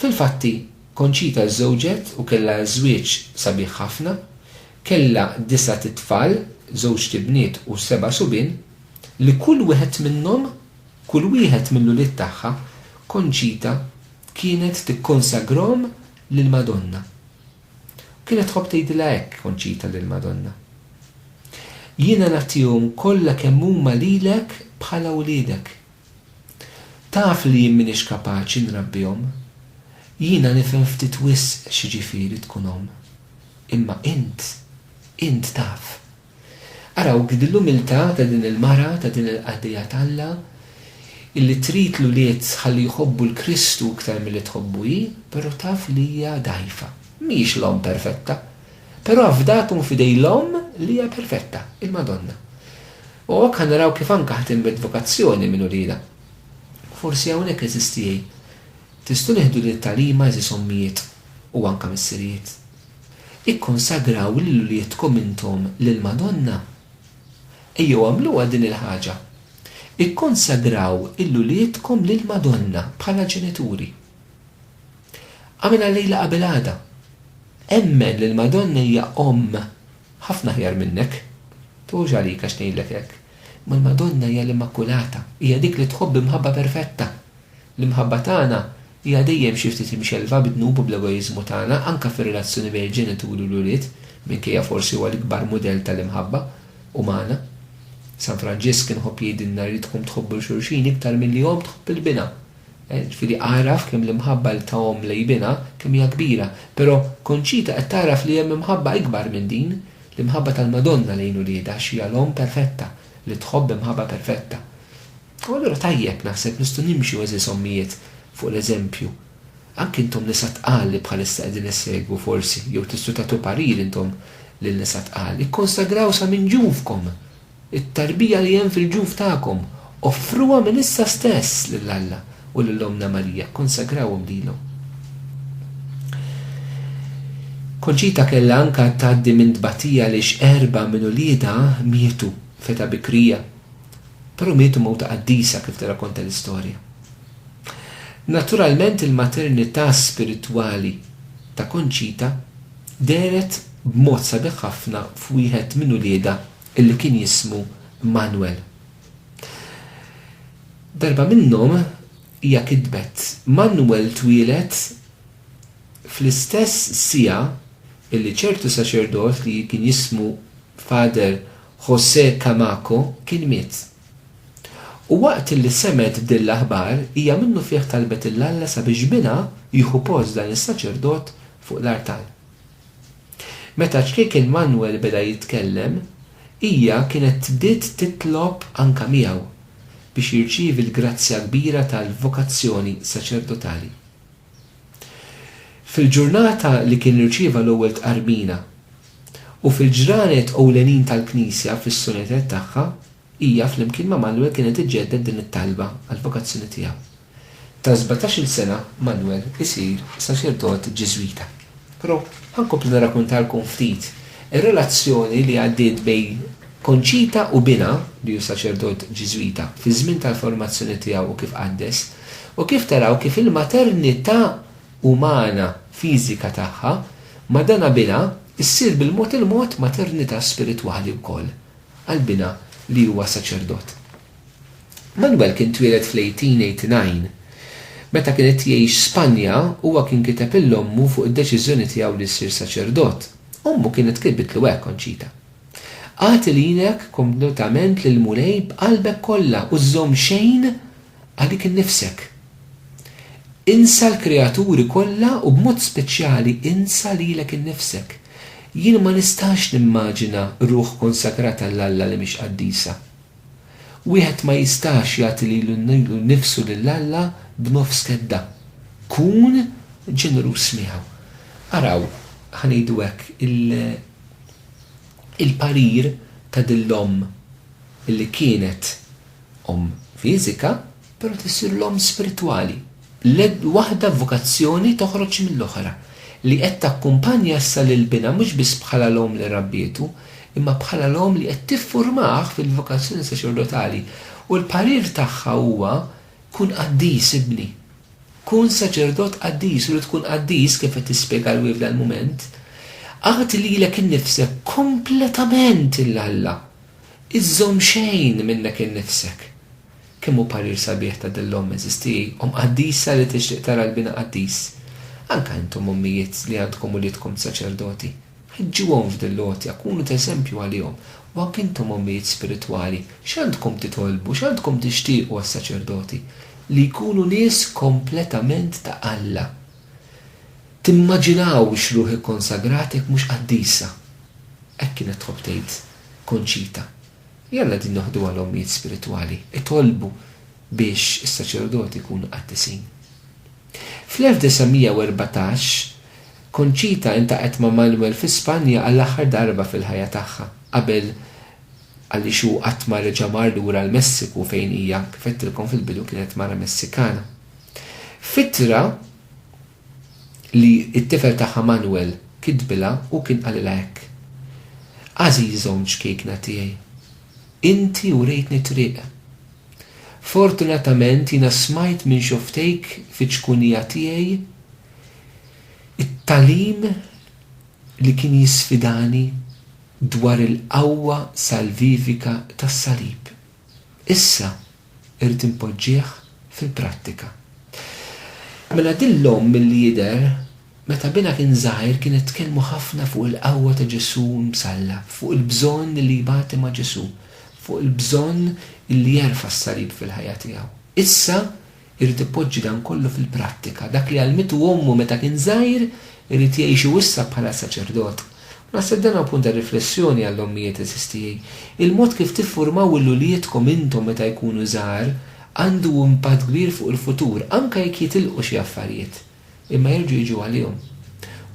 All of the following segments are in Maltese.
Fil-fatti, Conchita żżewġet u kellha żwieġ sabiħ ħafna. Kellha disgħat itfal, żewġt ibniet u seba' subien, li kull wieħed minnhom, kull wieħed mill-ulied tagħha, Conchita kienet tikkonsagrahom lill-Madonna. U kienet tħobb tgħidilha hekk, Conchita, lill-Madonna, Jiena nagħtihom kollha kemm huma lilek bħala wliedek. Taf li jien m'iniex kapaċi nrabbihom. Jiena nifhem ftit wisq x'jiġifieri tkun omm. Imma int, int taf. Arawk din l-umiltà ta' din il-mara, ta' din il-qaddejja t'Alla, illi trid l-ulied ħalli jħobbu 'l Kristu iktar milli tħobbu hi, però taf li hija dgħajfa. Mhijiex l-omm perfetta. Però afdakom f'idej l-omm li hija perfetta, il-Madonna. U hawnhekk ħa naraw kif anke ħa tinbet vokazzjoni minn uliedha. Forsi hawnhekk, għeżież tiegħi, tistgħu nieħdu din it-tagħlima għeżież ommijiet u anke missirijiet. Ikkonsagraw lil uliedkom intom lill-Madonna. Ejjew agħmluha din il-ħaġa. Ikkonsagraw lil uliedkom lill-Madonna bħala ġenituri. Agħmilha llejla qabel għada. Emmen li l-Madonna hija Omm. Ħafna aħjar minnek. Tħux għalik għax ngħidlek hekk, imma l-Madonna hija l-Immakulata, hija dik li tħobb b'imħabba perfetta. L-imħabba tagħna hija dejjem xi ftit imxellfa bid-dnub u bl-egoiżmu tagħna, anke fir-relazzjoni bejn il-ġenituri u l-ulied, minkejja forsi huwa l-ikbar mudell tal-imħabba umana. San Franġisk kien iħobb jgħidilna jridkom tħobbu 'l xulxin iktar milli omm tħobb 'l binha. Ġifieri agħraf kemm l-imħabba li ta omm lejn binha, kemm hija kbira. Però Conchita qed tagħraf li hemm imħabba ikbar minn din, l-imħabba tal-Madonna lejn uliedha għax hija l-omm perfetta, li tħobb b'imħabba perfetta. U allura tajjeb, naħseb, nistgħu nimxu, għeżież ommijiet, fuq l-eżempju. Anki intom nisa tqal li bħalissa qegħdin issegwu, forsi, jew tistgħu tagħtu parir intom lil nisa tqal, ikkonsagraw sa minn ġufkom! It-tarbija li hemm fil-ġuf tagħkom, offruha minn issa stess lil Alla u lil Ommna Marija, kkonsagrawhom lilhom. Konċita kellha anke tgħaddi minn tbatija għaliex erbgħa minn uliedha mietu f'età bikrija, però mietu mewt ta' qaddisa kif tirrakkonta l-istorja. Naturalment il-maternità spiritwali ta' Konċita dehret b'mod sabiħ ħafna f'wieħed minn uliedha, illi kien jismu Manwel. Darba minnhom hija kitbet, Manwel twieled fl-istess siegħa illi ċertu saċerdot li kien jismu Father José Camacho kien miet. U waqt illi semgħet b'din l-aħbar hija minnufih talbet 'l Alla sabiex binha jieħu post dan is-saċerdot fuq l-artal. Meta ċkejken Manwel beda jitkellem, hija kienet bdiet titlob anke miegħu biex jirċievi l-grazzja kbira tal-vokazzjoni saċerdotali. Fil-ġurnata li kien irċieva l-ewwel tqarbina, u fil-ġranet ewlenin tal-Knisja fis-sunetet tagħha, Hija flimkien ma' Manuel kienet iġġedded din it-talba għall-vokazzjoni tiegħu. Ta' sbatax-il sena Manuel isir saċerdot Ġiżwita. Però ħa nkompli nirrakkuntalkom ftit ir-relazzjoni li għaddiet bejn Conchita u binha li hu saċerdot Ġiżwita fiż-żmien tal-formazzjoni tiegħu u kif qaddes, u kif taraw kif il-maternità umana fiżika tagħha ma' dan binha ssir bil-mod il-mod maternità spiritwali wkoll. għal binha li huwa saċerdot. Manuel kien twieled fl-1889. Meta kien qed jgħix Spanja, huwa kien kiteb lil ommu fuq id-deċiżjoni tiegħu li jsir saċerdot. Ommu kienet kitbitlu hekk, Conchita. Agħti lilek kompletament lill-Mulej b'qalbek kollha u żżomm xejn Għalik innifsek. Insa l-kreaturi kollha u b'mod speċjali insa lilek innifsek. Jien ma nistax nimmaġina ruħ konsagrata 'l Alla li mhix qaddisa. Wieħed ma jistax jagħti lilu nnifsu lil Alla b'nofs kedda. Kun ġeneruż miegħu. Araw, ħa ngħidu hekk, il-parir ta' din l-omm li kienet. omm fiżika, però tissir l-omm spiritwali. Waħda b'vokazzjoni toħroġ mill-oħra, li qed takkumpanja issa lil binha mhux biss bħala l-omm li rabbietu, imma bħala l-omm li qed tifformah fil-vokazzjoni saċerdotali. U l-parir tagħha huwa, Kun qaddis, ibni. Kun saċerdot qaddis, u li tkun qaddis, kif qed tispjega l-WIV dal-mument, agħti lilek innifsek kompletament 'l Alla. Iżżomm xejn minnek innifsek. Kemm hu parir sabiħ ta' din l-omm eżisti, omm qaddisa li tixtieq tara l-bina qaddis. Anke intom ommijiet li għandkom uliedkom saċerdoti, ħeġġuhom f'din l-għotja, kunu ta' eżempju għalihom, u anke intom ommijiet spiritwali, x'għandkom titolbu, x'għandkom tixtiequ għas-saċerdoti? Li jkunu nies kompletament ta' Alla. Timmaġinawx ruħ ikkonsagrat jekk mhux qaddisa. Hekk kienet tħobb tgħid Conchita. Jalla din noħduha l-ommijiet spiritwali itolbu biex is-saċerdoti jkunu qaddisin. Fl-1914, Conchita iltaqgħet ma' Manuel fi Spanja għall-aħħar darba fil-ħajja tagħha qabel għaliex hu qatt ma reġa' mar lura l-Messiku fejn hija, kif għedtilkom fil-bidu, kienet mara Messikana. F'ittra li t-tifel tagħha Manuel kitbilha hu kien qalilha hekk, Għażiża u mċkiekna tiegħi, inti urejtni t-triq. Fortunatament jiena smajt minn xofftejk fiċ-ċkunija tiegħi t-tagħlim li kien jisfidani dwar il-qawwa salvivika tas-Salib. Issa irrid inpoġġih fil-prattika. Mela din l-omm milli jidher meta binha kien żgħir kienet tkellmu ħafna fuq il-qawwa ta' Ġesù msallab, fuq il-bżonn li jbati ma' Ġesù, fuq il-bżonn li jerfa' s-salib fil-ħajja tiegħu. Issa Irid ipoġġi dan kollu fil-prattika. Dak li għallmitu ommu meta kien żgħir, irid jgħixu issa bħala saċerdot. U naħseb dan hu punt ta' riflessjoni għall-ommijiet għeżież tiegħi. Il-mod kif tiffurmaw lil uliedkom intom meta jkunu żgħar għandu impatt kbir fuq il-futur, anke jekk jitilqu xi affarijiet. Imma jerġgħu jiġu għalihom.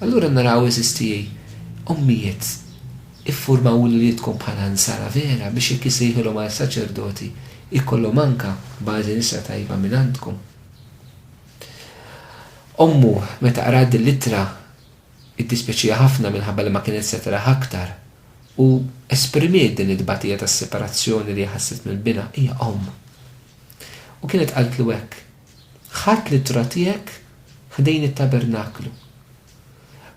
Allura naraw, għeżież tiegħi, ommijiet, iffurmaw uliedkom bħala Nsara vera biex jekk jissejħilhom għal saċerdoti jkollhom anke bażi nisa tajba mingħandkom. Ommu, meta qrat dil-ittra, iddispjaċiha ħafna minħabba li ma kienet se taraha aktar, u esprimiet din it-tbatija tas-separazzjoni li hi ħasset mill-binha, hija omm. U kienet qaltlu hekk. Ħadt l-ittra tiegħek ħdejn it-tabernaklu.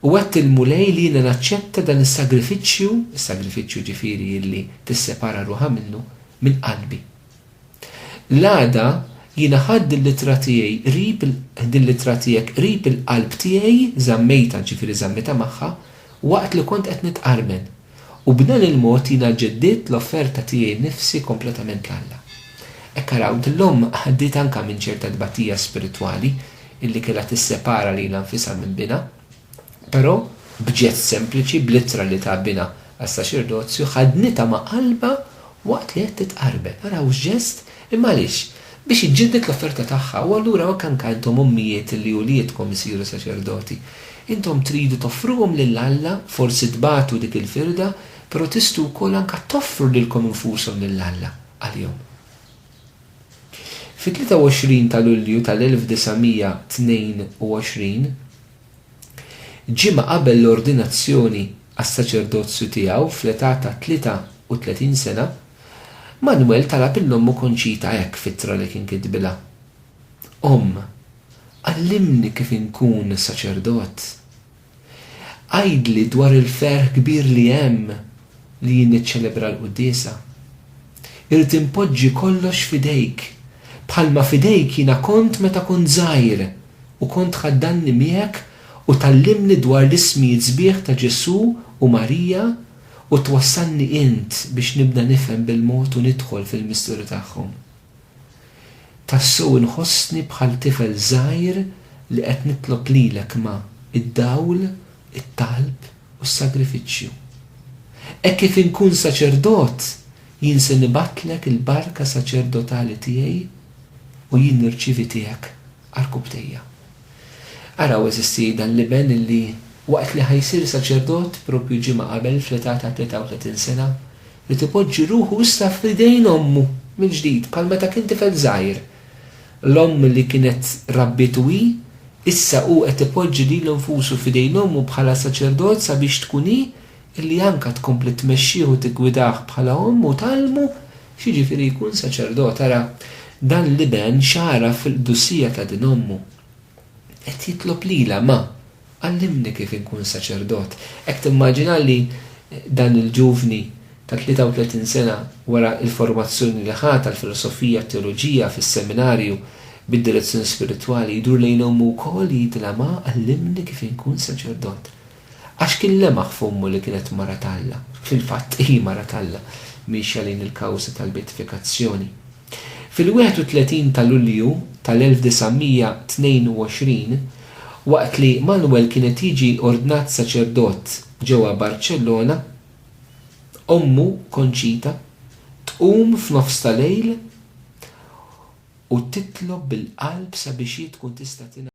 U għedt il-Mulej li jiena naċċetta dan is-sagrifiċċju, is-sagrifiċċju jiġifieri li tissepara ruħha minnu, minn qalbi. L-għada jiena ħadt din l-ittra tiegħi qrib din l-ittra tiegħek qrib il-qalb tiegħi, żammejtha, jiġifieri żammejtha magħha, waqt li kont qed nitqarmen. U b'dan il-mod jiena ġeddidt l-offerta tiegħi nnifsi kompletament 'l Alla. Hekk araw, din l-omm għaddiet anke minn ċerta tbatija spiritwali illi kellha tissepara lilha nfisha minn binha. Però, b'ġest sempliċi, bl-ittra li ta binha għas-saċerdozju, ħaddnitha ma' qalbha waqt li qed titqarbel. Araw x'ġest! Imma għaliex? biex iġġedded l-offerta tagħha, u allura hekk anke intom ommijiet li uliedkom isiru saċerdoti. Intom tridu toffruhom lil Alla, forsi tbatu dik il-firda, però tistgħu wkoll anke toffru lilkom infushom lil Alla għalihom. Fit-23 ta' Lulju tal-1922, ġimgħa qabel l-ordinazzjoni għas-saċerdozju tiegħu fl-età ta' 33 sena, Manwel talab 'il ommu Konċita hekk f'ittra li kien kitbilha, Omm, għallimni kif inkun saċerdot. Għidli dwar il-ferħ kbir li hemm li jien niċċelebra l-quddiesa. Irrid inpoġġi kollox f'idejk, bħalma f'idejk jiena kont meta kont żgħir u kont tħaddanni miegħek u tgħallimni dwar l-ismijiet sbieħ ta' Ġesù u Marija u twassalni int biex nibda nifhem bil-mod u nidħol fil-misteri tagħhom. Tassew inħossni bħal tifel żgħir li qed nitlob lilek ma' id-dawl, it-talb u s-sagrifiċċju. Hekk kif inkun saċerdot, jien se nibgħatlek il-barka saċerdotali tiegħi u jien nirċievi tiegħek għarkubbtejja. Araw, eżisti, dan l-iben li, waqt li ħa jsir saċerdot, proprju ġimgħa qabel, fl-età ta' 33 sena, ried ipoġġi ruħu issa f'idejn ommu mill-ġdid, bħal meta kien tifel żgħir. L-omm li kienet rabbietu hi, issa hu qed ipoġġi lilu nfusu f'idejn ommu bħala saċerdot sabiex tkun hi Illi anka tkompli tmexxih u tiggwidah bħala omm u tgħallmu x'jiġifieri jkun saċerdot. Ara, dan l-iben x'għaraf fil-qdusija ta' din ommu. Qed jitlob lilha, Ma, għallimni kif inkun saċerdot. Hekk timmaġina li dan il-ġuvni ta' 33 sena wara l-formazzjoni li ħa tal-filosofija t-teoloġija fis-seminarju bid-direzzjoni spiritwali jdur lejn ommu wkoll jgħidilha, Ma, għallimni kif inkun saċerdot. Għax kien lemaħ f'ommu li kienet mara t'Alla. Fil-fatt, hi mara t'Alla, miexja lejn il-kawża tal-beatifikazzjoni. Fil-31 ta' Lulju tal-1922, waqt li Manuel kien qed jiġi ordnat saċerdot ġewwa Barċellona, ommu, Conchita, tqum f'nofs ta' lejl u titlob bil-qalb sabiex hi tkun tista' tingħalaq.